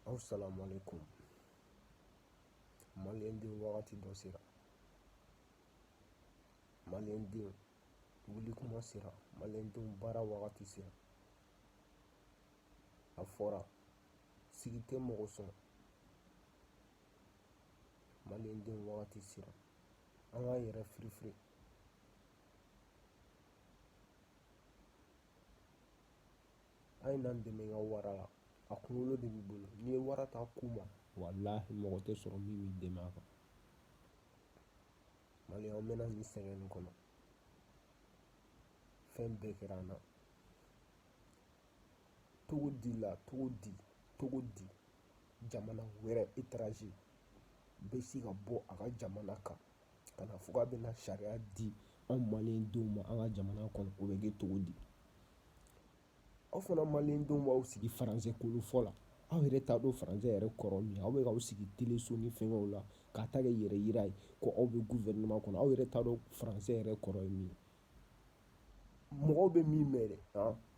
aw salamualeykum maliyɛndenw wagati dɔ sera maliyɛndenw wuli kuma sera maliyɛndenw baara wagati sera a fɔra sigi tɛ mɔgɔ sɔn maliyɛndenw wagati sera an k'an yɛrɛ firifiri a ye na n dɛmɛ n ka wara la a kunkolo de b'i bolo n'i ye wara ta ku ma walahi mɔgɔ tɛ sɔrɔ min b'i dɛmɛ a kan mali an mɛnna nin sɛgɛn nin kɔnɔ fɛn bɛɛ kɛra an na cogo di la cogo di cogo di jamana wɛrɛ étranger bɛ se ka bɔ a ka jamana kan ka na fɔ k'a bɛna sariya di anw maliyɛndenw ma an ka jamana kɔnɔ o bɛ kɛ cogo di aw fana maliyɛndenw b'aw sigi faransɛ kolo fɔ la aw yɛrɛ t'a dɔn faransɛ yɛrɛ kɔrɔ min aw bɛ k'aw sigi teleso ni fɛngɛw la k'a ta kɛ yɛrɛ yira ye ko aw bɛ gouvernement kɔnɔ aw yɛrɛ t'a dɔn faransɛ yɛrɛ kɔrɔ ye min ye mɔgɔw bɛ min mɛn dɛ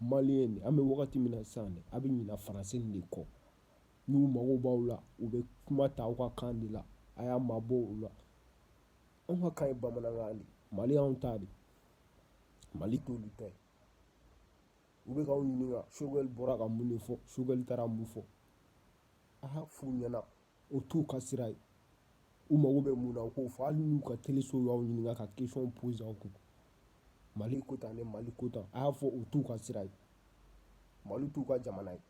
maliyɛnden an bɛ wagati min na sisan dɛ a bɛ ɲina faransɛ nin de kɔ n'u mago b'aw la u bɛ kuma ta aw ka kan de la a y'a mabɔ u la anw ka kan ye bamanankan de mali y'anw ta de mali t'olu ta ye u bɛ k'aw ɲininka sogɛli bɔra ka mun de fɔ sogɛli taara mun fɔ a y'a f'u ɲɛna o t'u ka sira ye u mago bɛ mun na u k'o fɔ hali n'u ka teleso y'aw ɲininka ka question poser aw kun mali ko tan ni mali ko tan a y'a fɔ o t'u ka sira ye mali t'u ka jamana ye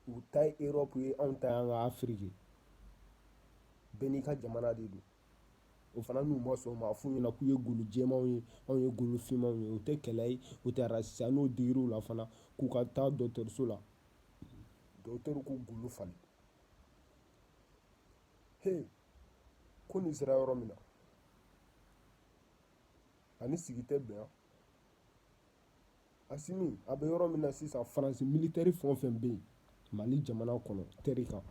u ta ye erɔpu ye anw ta y'an ka afiriki bɛɛ n'i ka jamana de don o fana n'u ma sɔn o ma a f'u ɲɛna k'u ye golo jɛmanw ye anw ye golo finmanw ye o tɛ kɛlɛ ye o tɛ raciste ye n'o digir'u la fana k'u ka taa dɔgɔtɔrɔso la dɔgɔtɔrɔ k'u golo falen he ko nin sera yɔrɔ min na a ni sigi tɛ bɛn asimi a bɛ yɔrɔ min na sisan faransi militɛri fɛn o fɛn bɛ yen mali jamana kɔnɔ tɛri kan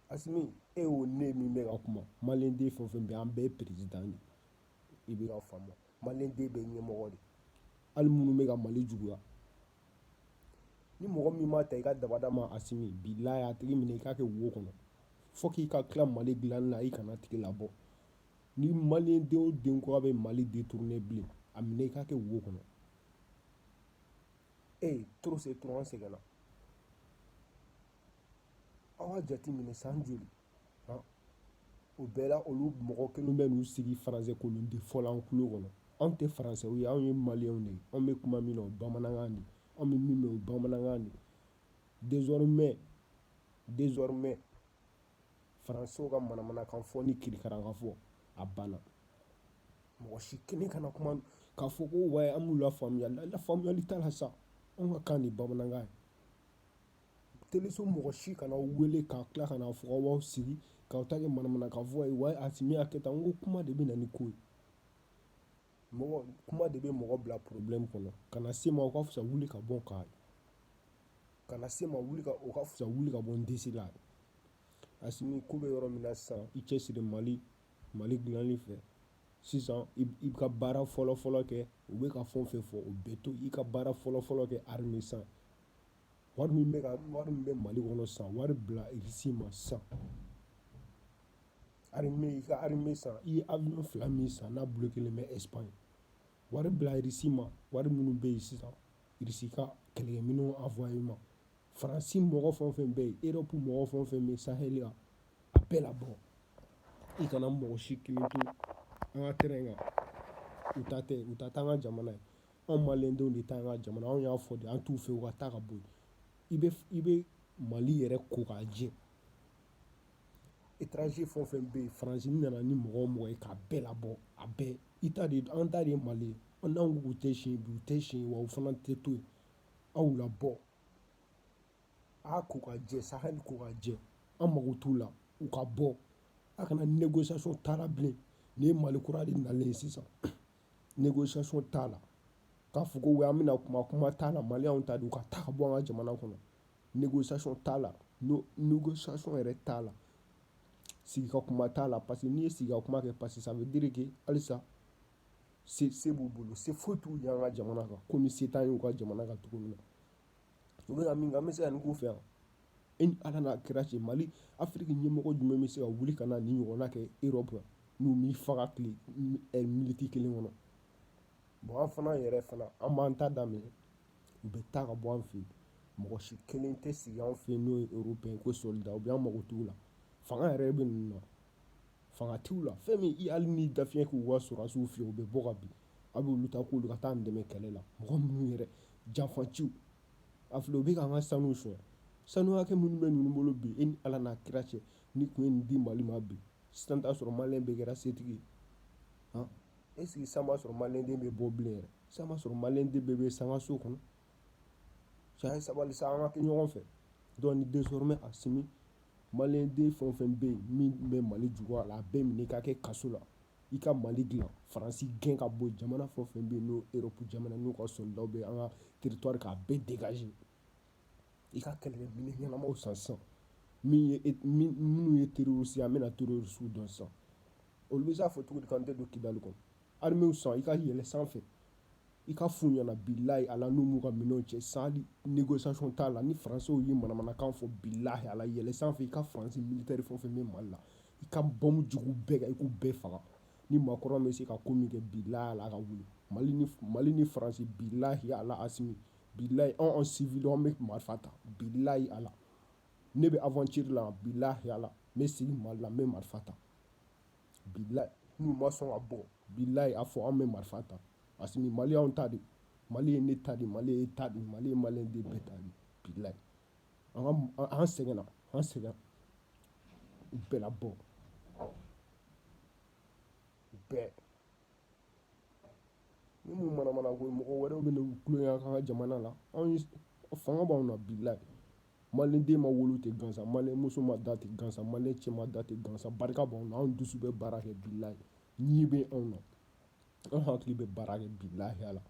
asimi e y'o ne min bɛ ka kuma maliyɛnden fɛn o fɛn bɛ yen an bɛɛ ye perezidan de i bɛ k'a faamu maliyɛnden bɛɛ ye ɲɛmɔgɔ de ye hali minnu bɛ ka mali juguya ni mɔgɔ min m'a ta i ka dabada ma asimi bilayi a tigi minɛ i k'a kɛ wo kɔnɔ fo k'i ka tila mali dilanni la i kan'a tigi labɔ ni maliyɛnden o den ko a bɛ mali détourner bilen a minɛ i k'a kɛ wo kɔnɔ trop c'est trop an sɛgɛnna aw ka jate minɛ san joli o bɛɛ la olu mɔgɔ kelen bɛ n'u sigi faransɛ kolon de fɔ la an tulo kɔnɔ anw tɛ faransɛw ye anw ye maliyɛnw de ye anw bɛ kuma min na o bamanankan de anw bɛ min mɛn o bamanankan de désormais désormais faransɛw ka manamanakan fɔ ni kirikarankan fɔ a banna mɔgɔ si kelen kana kuma k'a fɔ ko wa an b'u lafaamuya lafaamuyali t'a la sa anw ka kan de bamanankan ye teleso mɔgɔ si kana wele ka tila ka n'a fɔ k'aw b'aw sigi k'aw ta kɛ manamanakan fɔ ye wa asimi y'a kɛ tan n ko kuma de bɛ na ni ko ye kuma de bɛ mɔgɔ bila problème kɔnɔ kana se n ma o ka fisa wuli ka bɔ n kan ye kana se n ma wuli ka o ka fisa wuli ka bɔ n disi la asimi ko bɛ yɔrɔ min na sisan i cɛsiri mali mali dilanni fɛ sisan i i ka baara fɔlɔ fɔlɔ kɛ u bɛ ka fɛn o fɛn fɔ o bɛɛ to i ka baara fɔlɔ fɔlɔ kɛ arme san wari min bɛ ka wari min bɛ mali kɔnɔ san wari bila irisi ma san arme i ka arme san i ye avion fila min san n'a bolo kelen bɛ Espagne wari bila Irisi ma wari minnu bɛ yen sisan Irisi ka kɛlɛkɛminɛnw envoyer ma Faransi mɔgɔ fɛn o fɛn bɛ yen Europe mɔgɔ fɛn o fɛn bɛ Sahel la a bɛɛ labɔ i kana mɔgɔ si kelen to an ka terrain kan u ta tɛ u ta t'an ka jamana ye anw maliyɛndenw de ta an ka jamana anw y'a fɔ de an t'u fɛ u ka taa ka bɔ yen i bɛ i bɛ Mali yɛrɛ ko k'a jɛ étranger fɛn o fɛn bɛ yen faransi nana ni mɔgɔ o mɔgɔ ye k'a bɛɛ labɔ a bɛɛ i ta de an ta de ye mali ye an n'an k'u tɛ si bi u tɛ si wa u fana tɛ to yen aw labɔ a ko k'a jɛ sahel ko k'a jɛ an mago t'u la u ka bɔ a kana négociation t'a la bilen nin ye mali kura de nalen ye sisan négociation t'a la k'a fɔ ko an bɛna kuma kuma t'a la mali anw ta don u ka taa ka bɔ an ka jamana kɔnɔ négociation t'a la négociation yɛrɛ t'a la sigi ka kuma t'a la parce que n'i ye sigi ka kuma kɛ parce que ça veut dire que halisa se se b'u bolo se foyi t'u ye an ka jamana kan komi se t'an ye u ka jamana kan cogo min na U bɛ ka min kɛ an bɛ se ka nin k'u fɛ yan e ni ala n'a kɛra cɛ mali afiriki ɲɛmɔgɔ jumɛn bɛ se ka wuli ka na nin ɲɔgɔn kɛ europe n'u m'i faga tile miniti kelen kɔnɔ bon an fana yɛrɛ fana an b'an ta daminɛ u bɛ taa ka bɔ an fɛ mɔgɔ si kelen tɛ sigi an fɛ n'o ye européen ko soldat u bɛɛ an mago t'u la fanga yɛrɛ bɛ ninnu na fanga t'u la fɛn min i hali ni dafiɲɛ k'u ka sɔrɔdasiw fiyɛ u bɛ bɔ ka bin a bɛ olu ta k'olu ka taa an dɛmɛ kɛlɛ la mɔgɔ minnu yɛrɛ janfaciw a filɛ u bɛ k'an ka sanuw sonya sanu hakɛ minnu bɛ ninnu bolo bi e ni ala n'a kira cɛ ni tun ye nin di mali ma bi sisan t'a sɔrɔ maliyɛn bɛɛ kɛra setigi ye han est-ce que san b'a sɔrɔ maliyɛnden bɛ bɔ bilen yɛrɛ san b'a sɔrɔ maliyɛnden bɛɛ bɛ sankanso kɔnɔ Cɛ a ye sabali sa an ka kɛ ɲɔgɔn fɛ donc ni désormais Asimi maliyɛn den fɛn o fɛn bɛ yen min bɛ mali juguya la a bɛɛ minɛ i ka kɛ kaso la i ka mali dilan faransi gɛn ka bɔ jamana fɛn o fɛn bɛ yen n'o Europe jamana n'u ka soldat bɛ an ka territoire k'a bɛɛ dégager i ka kɛlɛkɛminɛn ɲɛnama san san minnu ye terroriste ye an bɛna terroriste dɔn san olu bɛ se k'a fɔ cogo di k'an tɛ don Kidali kɔnɔ arme san i ka yɛlɛ sanfɛ i ka f'u ɲɛna bilahi Ala n'u m'u ka minɛnw cɛ sisan hali négociation t'a la ni Français ye manamanakan fɔ bilahi Ala yɛlɛ sanfɛ i ka France militaire fɛn o fɛn bɛ Mali la i ka bɔmu jigin u bɛɛ kan i k'u bɛɛ faga ni Macron bɛ se ka ko min kɛ bilahi Ala a ka wuli Mali ni Mali ni France bilahi Ala Asimi bilahi anw anw civil an bɛ marifa ta bilahi Ala ne bɛ aventure la bilahi Ala n bɛ segin Mali la n bɛ marifa ta Bilahi n'u ma sɔn ka bɔ bilahi a fɔ an bɛ marifa ta Asimi Mali y'anw ta de Mali ye ne ta de Mali ye e ta de Mali ye maliyɛn den bɛɛ ta de bilahi an ka m- an an sɛgɛnna an sɛgɛn u bɛɛ labɔ u bɛɛ ni mun manamana ko ye, mɔgɔ wɛrɛw bɛ na u tulonkɛ k'an ka jamana la anw ye s- fanga b'anw na bilahi Maliyɛn den ma wolo ten gansan maliyɛn muso ma da ten gansan maliyɛn cɛ ma da ten gansan barika b'anw na anw dusu bɛ baara kɛ bilahi ni bɛ anw na an hakili bɛ baara kɛ bilahi ala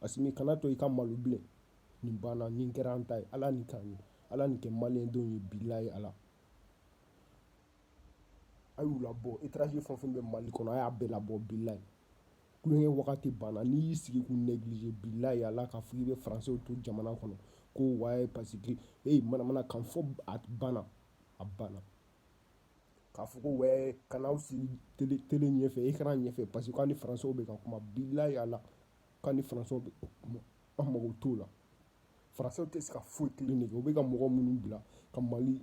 Asimi kana to i ka malo bilen nin banna nin kɛra an ta ye ala nin k'an ye ala nin kɛ maliyɛn denw ye bilahi ala a y'u labɔ étranger fɛn o fɛn bɛ mali kɔnɔ a y'a bɛɛ labɔ bilahi tulonkɛ wagati banna n'i y'i sigi k'u négliger bilahi Ala k'a fɔ k'i bɛ Français to jamana kɔnɔ ko waye parce que e manamana kan fɔ a banna a banna k'a fɔ ko waye kan'aw sigi tele tele ɲɛfɛ écran ɲɛfɛ parce que k'an ni Français bɛ ka kuma bilahi Ala k'an ni Français bɛ ka kuma an mago t'o la Français tɛ se ka foyi kelen de kɛ u bɛ ka mɔgɔ minnu bila ka Mali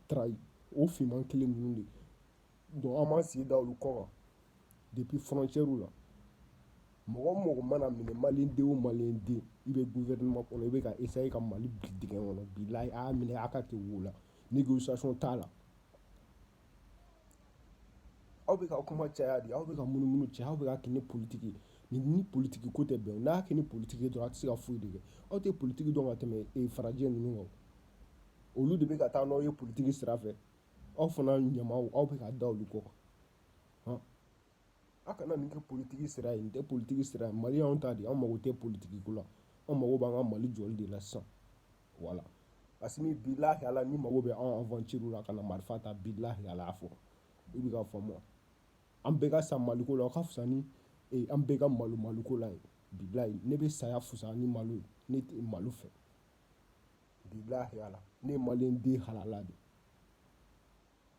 trahi o finman kelen ninnu de don an b'an sen da olu kɔ kan depuis frontière la mɔgɔ o mɔgɔ mana minɛ maliyɛn den o maliyɛn den i bɛ gouvernement kɔnɔ i bɛ ka essayer ka mali bila dingɛ kɔnɔ bilahi a y'a minɛ a ka kɛ wo la négociation t'a la aw bɛ ka kuma caya de aw bɛ ka munumunu cɛ aw bɛ ka kɛ ni politigi ye ni politigi ko tɛ bɛn n'a y'a kɛ ni politigi ye dɔrɔn a tɛ se ka foyi de kɛ aw tɛ politigi dɔn ka tɛmɛ farajɛ ninnu kan olu de bɛ ka taa n'aw ye politigi sira fɛ aw fana ɲamaw aw bɛ ka da olu kɔ hɔn aw kana nin kɛ politigi sira ye nin tɛ politigi sira ye mali anw ta de an mago tɛ politigi ko la an mago b'an ka mali jɔli de la sisan voilà parce que bilahi ala ni mago bɛ an aventure la ka na marifa ta bilahi ala fɔ i bɛ ka faamu an bɛɛ ka sa maliko la o ka fisa ni eh, an bɛɛ ka malo maliko la ye bilahi ne bɛ saya fusa ni malo ye ne tɛ malo fɛ bilahi ala ne maliyɛn den halala de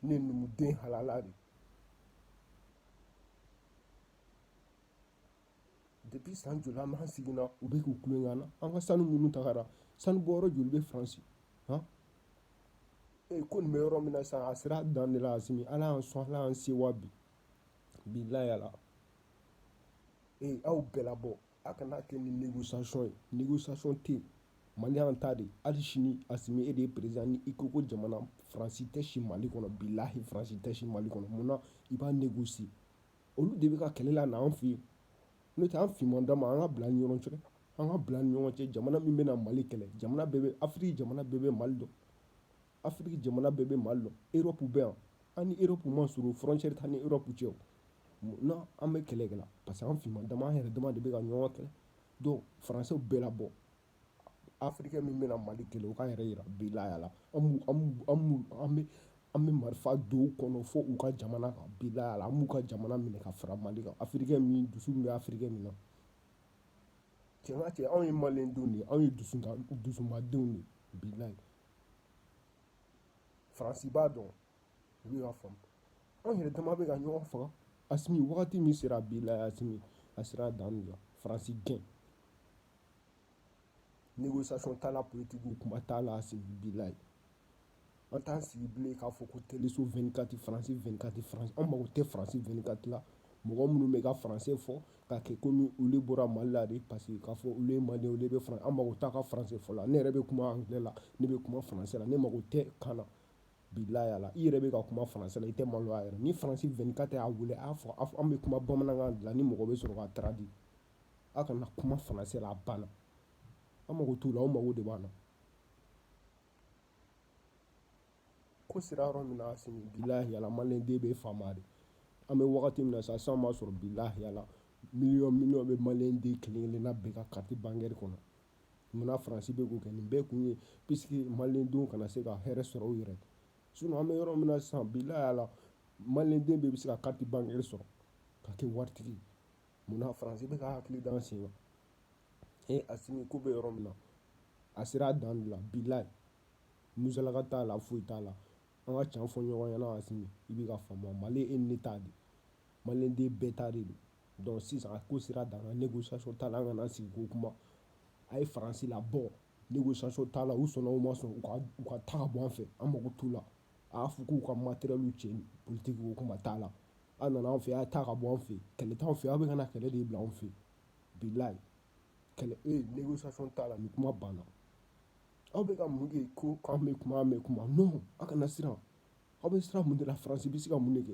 ne numu den halala de depuis san joli an b'an sigi na u bɛ k'u kulonkɛ an na an ka sanu minnu tagara sanu bɔyɔrɔ joli bɛ faransi han e ko nin bɛ yɔrɔ min na sisan a sera dan de la asimi ala y'an sɔn ala y'an sewa bi bilahi ala ee aw bɛɛ labɔ a kana kɛ ni négociation ye négociation tɛ yen mali y'an ta de hali sini asimi e de ye président ni i ko ko jamana faransi tɛ si mali kɔnɔ bilahi faransi tɛ si mali kɔnɔ mun na i b'a négocier olu de bɛ ka kɛlɛ la na an fɛ yen n'o tɛ an finman dama an ka bila ni ɲɔgɔn cɛ an ka bila ni ɲɔgɔn cɛ jamana min bɛna mali kɛlɛ jamana bɛɛ bɛ afiriki jamana bɛɛ bɛ mali dɔn afiriki jamana bɛɛ bɛ mali dɔn erɔpu bɛ yan an ni erɔpu ma surun frontière t'an ni erɔpu cɛ n'an bɛ kɛlɛ kɛ parce que an finman dama an yɛrɛ dama de bɛ ka ɲɔgɔn kɛlɛ donc faransɛw bɛɛ labɔ afirikɛn min bɛna mali kɛlɛ o k'a yɛrɛ jira bilahi ala an bɛ marifa don u kɔnɔ fo u ka jamana kan bilahi ala an b'u ka jamana minɛ ka fara mali kan afirikɛn min dusu bɛ afirikɛn min na cɛ cɛ anw ye maliyɛn denw de ye anw ye dusumadenw de bilahi faransi b'a dɔn olu y'a faamu anw yɛrɛ dama bɛ ka ɲɔgɔn faga asimi wagati min sera bilahi asimi a sera dan de la faransi gɛn négociation t'a la politiki kuma t'a la asimi bilahi an t'an sigi bilen k'a fɔ ko teleso 24 faransi 24 faransi an mago tɛ faransi 24 la mɔgɔ minnu bɛ ka faransɛ fɔ K'a kɛ komi olu bɔra mali la de parce que k'a fɔ olu maliyɛn olu bɛ faransi an mako t'a ka faransɛ fɔ la ne yɛrɛ bɛ kuma anglais la ne bɛ kuma faransɛ la ne mako tɛ kan na bilahi ala i yɛrɛ bɛ ka kuma faransɛ la i tɛ malo yɛrɛ ni faransi 24 y'a weele a fɔ an bɛ kuma bamanankan de la ni mɔgɔ bɛ sɔrɔ ka traduire aw kana kuma faransɛ la a banna an mako t'u la u mako de b'an na ko sera yɔrɔ min na asimi bilahi ala maliyɛnden bɛɛ faama de an bɛ wagati min na sisan b'a sɔrɔ bilahi ala miliyɔn miliyɔn bɛ maliyɛnden kelen kelenna bɛɛ ka carte bancaire kɔnɔ munna faransi bɛ k'o kɛ nin bɛɛ kun ye puisque maliyɛndenw kana se ka hɛrɛ sɔrɔ u yɛrɛ sinon an bɛ yɔrɔ min na sisan bilahi ala maliyɛnden bɛɛ bɛ se ka carte bancaire sɔrɔ ka kɛ waritigi munna faransi bɛ ka hakili dan sen kan Ee Asimi ko bɛ yɔrɔ min na a sera a dan la bilayi musalaka t'a la foyi t'a la an ka can fɔ ɲɔgɔn ɲɛna Asimi i bɛ k'a faamu mali e ni ne ta de maliden bɛɛ ta de don donc sisan a ko sera dan na négociation t'a la an kana sigi ko kuma a ye faransi labɔ négociation t'a la u sɔnna u ma sɔn u ka taa ka bɔ an fɛ an mako t'u la a y'a fɔ k'u ka matériel cɛ politigi ko kuma t'a la a' nana an fɛ a' ye taa ka bɔ an fɛ kɛlɛ t'an fɛ aw bɛ ka na kɛlɛ de bila an fɛ bilayi kɛlɛ e négociation t'a la ni kuma banna aw bɛ ka mun kɛ ko k'an bɛ kuma an bɛ kuma non aw kana siran aw bɛ siran mun de la faransi bɛ se ka mun de kɛ